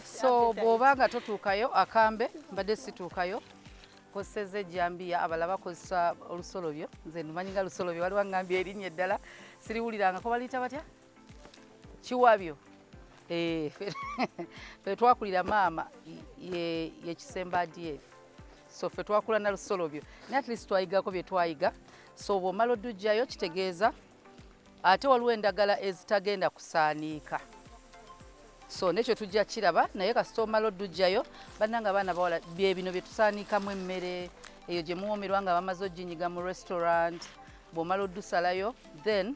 so bwoba nga totuukayo akambe mbadde situukayo kozeseza ejjambiya abala bakozesa olusolobyo nze numanyi nga lusolobyo waliwo ngambye erinnya eddala siriwuliranga ko baliyita batya kiwabyo eh, fe twakulira maama yekisemba adf so fe twakula na lusolobyo naye at least twayigako bye twayiga so bwomala odujjayo kitegeeza ate waliwo endagala ezitagenda kusaaniika so nekyo tujja kiraba naye kasita omala odujjayo bannanga abaana bawala byebino bye tusaaniikamu emmere eyo gye muwoomerwa nga bamaze oginyiga mu restaurant bwomala odusalayo then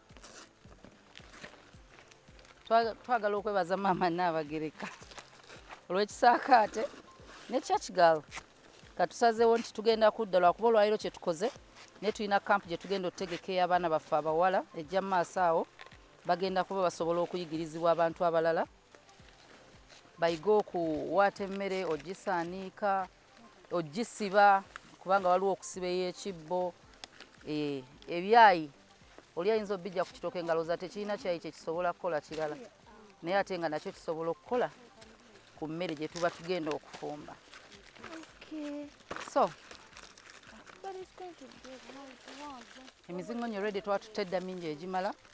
twagala okwebaza maama Nnaabagereka olw'ekisaakaate ne church girl katusazeewo nti tugenda kudda lwakuba olwaliro kye tukoze naye tulina kampu gye tugenda okutegeka ey'abaana baffe abawala ejja mu maaso awo bagenda kuba basobola okuyigirizibwa abantu abalala bayige okuwaata emmere ogisaniika ogisiba kubanga waliwo okusiba ey'ekibbo eh, ebyayi oli ayinza obijja ku kitooke nga looza tekirina kyayi kyekisobola kukola kirala naye ate nga nakyo kisobola okukola ku mmere gye tuba tugenda okufumba so emizingo nyo redi twatutedda mingi egimala